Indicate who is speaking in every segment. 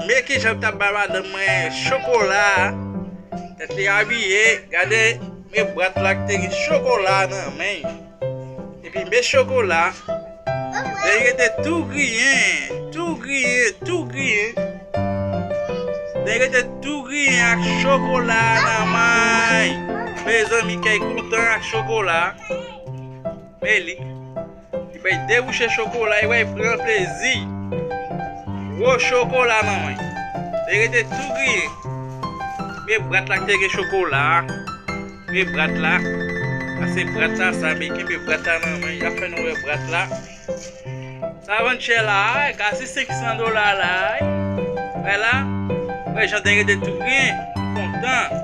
Speaker 1: Men kijan l tap bay madanm mwen chokola Tèt li abiye Gade men bwat la ki te gen chokola nan men Epi men chokola Lè li rete tou griyen Tou griyen Tou griyen Lè li rete tou griyen ak chokola nan men Mezanmi kèy kontan ak chokola Men li Li bay de bouche chokola e wè pran plezi. Gwo chokola nan men. Li rete tou griye. Premye brat la te gen chokola. Premye brat la. Ase brat la sa be kenbe brat la nan men. Ya fè nou wè brat la. Sa vann chè la. Kasi 500 dola la. Wè la. Wè jan de rete tou griye. Kontan.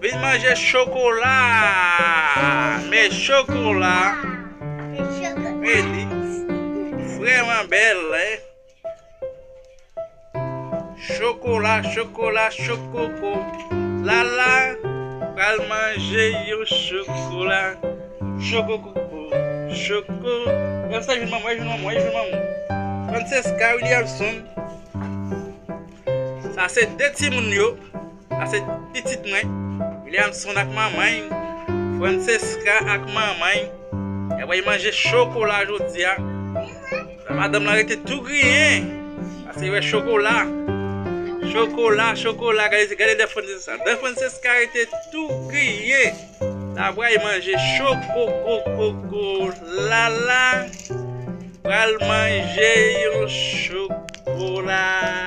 Speaker 1: Vin manje chokola! Men chokola! Men li! Vreman bel! Chokola, chokola, chokoko! Lala! Pral manje yon chokola! Chokokoko! Choko! Mwen se jouman mwen, jouman mwen, jouman mwen! Frances K. Williamson Sa se de timoun yo! Ase pitit mwen, Williamson ak manman y, Francesca ak manman y, y ap bay manje chokola jodi a. Sa madanm lan rete tou griyen, paske li wè chokola. Chokola, chokola, gade, gade dè Francesca. Dè Francesca rete tou griye. La bray manje chokokokoko. Lala, pral manje yon chokola.